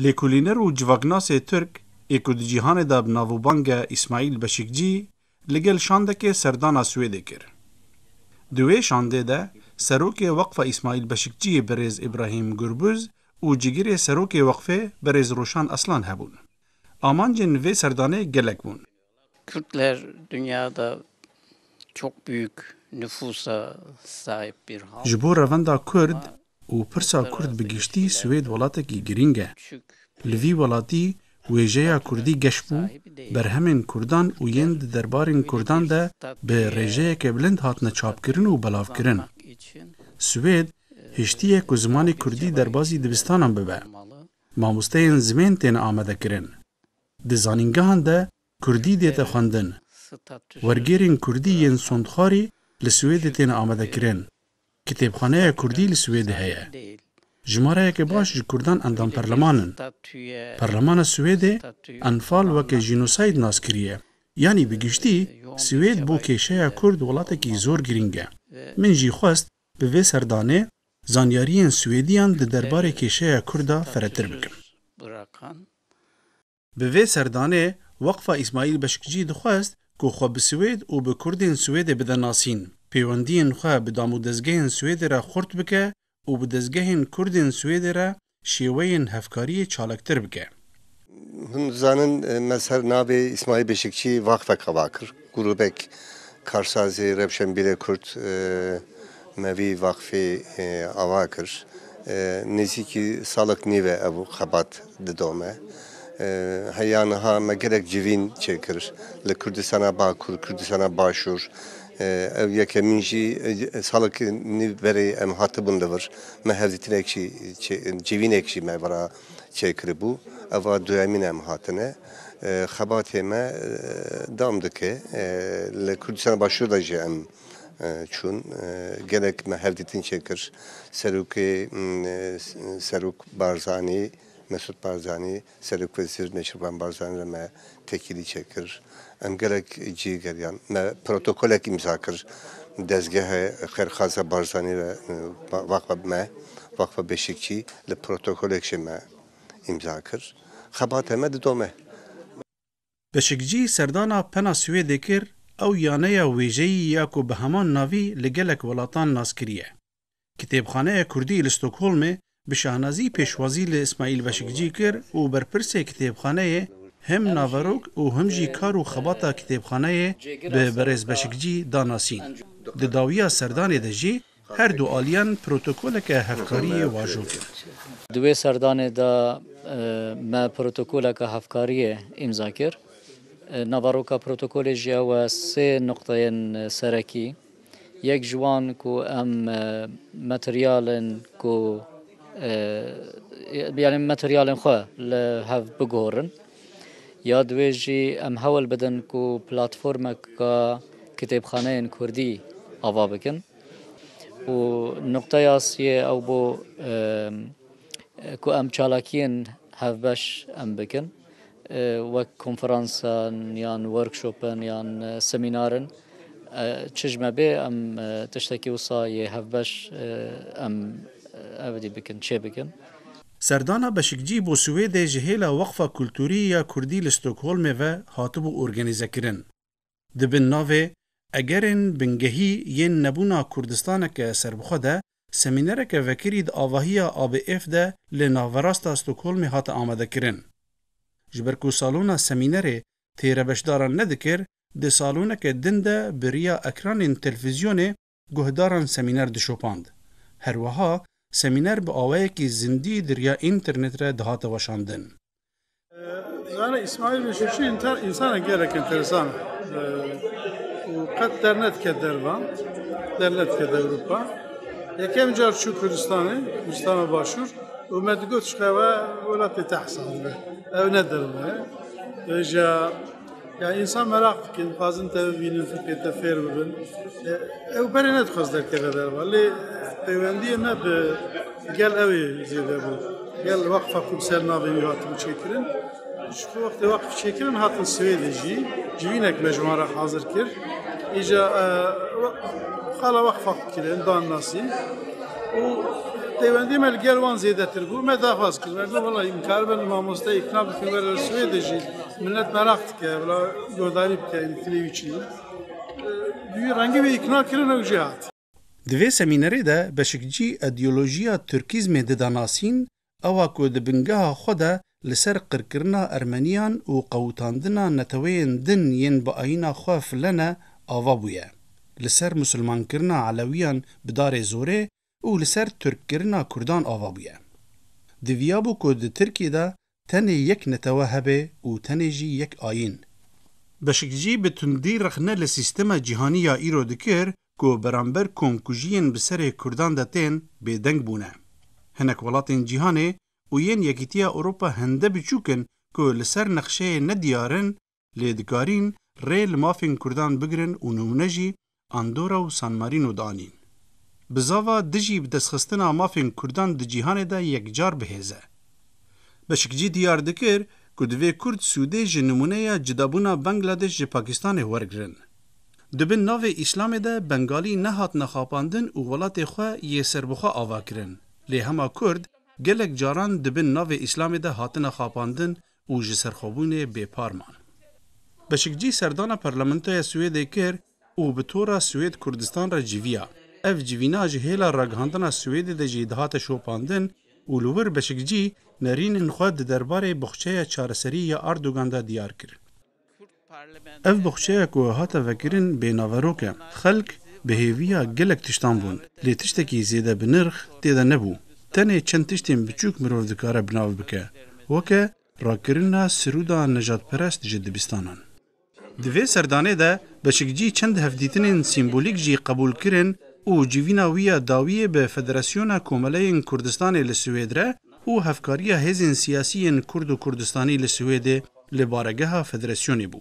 Lêkolîner û civaknasê Tirk ê ku di cîhanê de bi navûbang e Îsmaîl Beşîkcî li gel şandekê serdana Swêdê kir. Di wê şandê de Serokê Weqfa Îsmaîl Beşikciyê Birêz Îbrahîm Gurbuz û Cigirê Serokê Weqfê Birêz Rûşan Aslan hebûn. Amancên vê serdanê gelek bûn. Kurd li her dinya de çok büyük nüfusa sahip bir halk. Ji bo revenda Kurd û pirsa Kurd bi giştî Swêd welatekî girîng e. Li vî welatî wêjeya Kurdî geş bû, berhemên Kurdan û yên di derbarên Kurdan de bi rêjeyeke bilind hatine çapkirin û belavkirin. Swêd hiştiye ku zimanê Kurdî derbazî dibistanan bibe. Mamosteyên zimên tên amadekirin. Di zanîngehan de kurdî dête xwendin. Wergêrên kurdî yên sondxarî li Swêdê têne amadekirin. Kitêbxaneya kurdî li Swêdê heye. Jimareyeke baş ji kurdan endam perleman in. Perlemana Swêdê enfal weke jînosayîd nas kiriye. Yanî bi giştî Swêd bo kêşeya kurd welatekî zor girîng e. Min jî xwest Bi vê serdanê zanyariyên Swêdiyan di derbarê kêşeya Kurd de feretir bikim. Bi vê serdanê Weqfa Îsmaîl Beşikcî dixwest ku xwe bi Swêd û bi Kurdên Swêdê bide nasîn, pêwendiyên xwe bi damodezgehên Swêdê re xurt bike û bi dezgehên Kurdên Swêdê re şêweyên hevkariyê çalaktir bike. Hûn dizanin me ser navê Îsmaîl Beşikçî vaqfek ava kir. Grûbek karsazî, rewşenbîrê kurd me vî vaqfê ava kir. Nêzîkî salek nîv e ev xebat didome. Heya niha me gelek civîn çêkir li Kurdistana Bakur, Kurdistana Başûr, Ev yekemîn jî salek nîv berê em hatibûn li vir. Me hevdîtinek jî civînek jî me vera çêkiribû. Ev a duyemîn em hatine. Xebatê me dam dike. Li Kurdistana Başûr de jî em çûn. Gelek me hevdîtin çêkir. Serokê Serok Barzanî, Mesûd Barzanî. Serokwezîr Neçirvan Barzanî re me tekîlî çêkir. Em gelek cî geriyan. Me protokolek îmza kir. Dezgehê xêrxwaza Barzanî re Waqfa me, Waqfa Beşîkçî li protokolek jî me îmza kir. Xebata me didome. Beşikcî serdana pena Swêdê kir, ew yaneya wêjeyî ya ku bi heman navî li gelek welatan nas kiriye. Kitêbxaneya Kurdî li Stokholmê bi şahnazî pêşwazî li Îsmaîl Beşikcî kir û berpirsê kitêbxaneyê him naverok û him jî kar û xebata kitêbxaneyê bi berêz Beşikcî da nasîn. Di dawiya serdanê de jî her du aliyan protokoleke hevkariyê wajo kir. Di wê serdanê de me protokoleke hevkariyê îmza kir. Naveroka protokolê jî ew e sê nuqteyên serekî. Yek ji wan ku em materyalên ku yanî materyalên xwe li hev bigurin ya di wê jî em hewl bidin ku platformeka kitêbxaneyên Kurdî ava bikin û nuqteya siyê ew bû ku em çalakiyên hevbeş em bikin. wek konferansan yan workshopan yan semînarin çi ji me bê em tiştekî wisa yê hevbeş em evdî bikin çê bikin. Serdana Beşikcî bo Swêdê ji hêla Weqfa Kulturî ya Kurdî li Stockholmê ve hatibû organîzekirin. Di bin navê Egerên bingehî yên nebûna Kurdistaneke serbixwe de semînereke vekirî di avahiya ABF de li naverasta Stockholmê hate amadekirin. Ji ber ku salona semînerê têrebeşdaran nedikir, di saloneke din de bi riya ekranên telfîzyonê Guhdaran semîner dişopand. Herweha semîner bi awayekî zindî di riya înternet re dihate weşandin. Zana Îsmaîl bin Şuşî însanek gelek enteresan û qet dernedike dervan, dernedike Ewropa. Yekem car çû Kurdistanê, Kurdistana Başûr û me digot ji xwe ew welatê te hesab dibe. Ew ne derve ye. Rêja Yani insan merak dikin, dixwazin te bibînin, fiqê te fêr bibin. E, ew berê nedixwaz derkeve derva. Lê peywendiyê me bi gel ew ê zêde bû. Gel waqfa ku bi ser navê wî hatin çêkirin. Ji ku wextê waqf çêkirin hatin Swêdê jî civînek me ji wan re hazir kir. Îja e, we- xala waqfa kirin, dan nasîn. û peywendiyê me li gel wan zêdetir bû. Me daxwaz kir. Me got valla îmkar ben mamoste îkna bikin were li Swêdê jî Milet meraq dike bila guhdarî bike înfilê wî çi ye. Rengî wê îkna kirin ew jê hat. Di vê semînerê de Beşikcî îdeolojiya Tirkîzmê dida nasîn, ewa ku di bingeha xwe de li ser qirkirina Ermeniyan û qewitandina neteweyên din yên bi ayîna xwe file ne, ava bûye. Li ser Musulmankirina Elewiyan bi darê zorê û li ser tirkkirina kurdan ava bûye. Diviyabû ku di Tirkiyê de tenê yek netewe hebe û tenê jî yek ayîn. Beşikcî bi tundî rexne li sîstema cîhanî ya îro dikir ku beramber komkujiyên bi serê kurdan de tên, bêdeng bûne. Hinek welatên cîhanê û yên Yekîtiya Ewropa hende biçûk in ku li ser nexşeyê nediyar in lê dikarîn rê li mafên Kurdan bigirin û nimûne jî Andorra û San Marîno danîn. Bi zava dijî bi destxistina mafên Kurdan di cîhanê de yekcar bihêz e. Beşikcî diyar dikir ku divê Kurd sûdê ji nimûneya cudabûna Bangladeş ji Pakîstanê wergirin. Di bin navê Îslamê de Bengalî nehatine xapandin û welatê xwe yê serbixwe avakirin, lê hema Kurd gelek caran di bin navê Îslamê de hatine xapandin û ji serxwebûnê bêpar man. Beşikcî serdana Parlamentoya Swêdê kir û bi tora Swêd Kurdistan re civiya. Ev civîna ji hêla ragihandina Swêdê de jî dihate şopandin û li wir Beşikcî nerînên xwe di derbarê boxçeya çareseriyê ya Erdogan de diyar kirin. Ev baxçeya ku hate vekirin bênaverok e. Xelk bi hêviya gelek tiştan bûn, lê tiştekî zêde bi nirx tê de nebû. Tenê çend tiştên biçûk mirov dikare bi nav bike, weke rakirina siruda nejatperest ji dibistanan. Di vê serdanê de Beşikcî çend hevdîtinên sîmbolîk jî qebûl kirin û civîna wî ya dawiyê bi Federasyona Komeleyên Kurdistanê li Swêd re û hevkariya hêzên siyasî yên kurd û kurdistanî li Swêdê li baregeha federasyonê bû.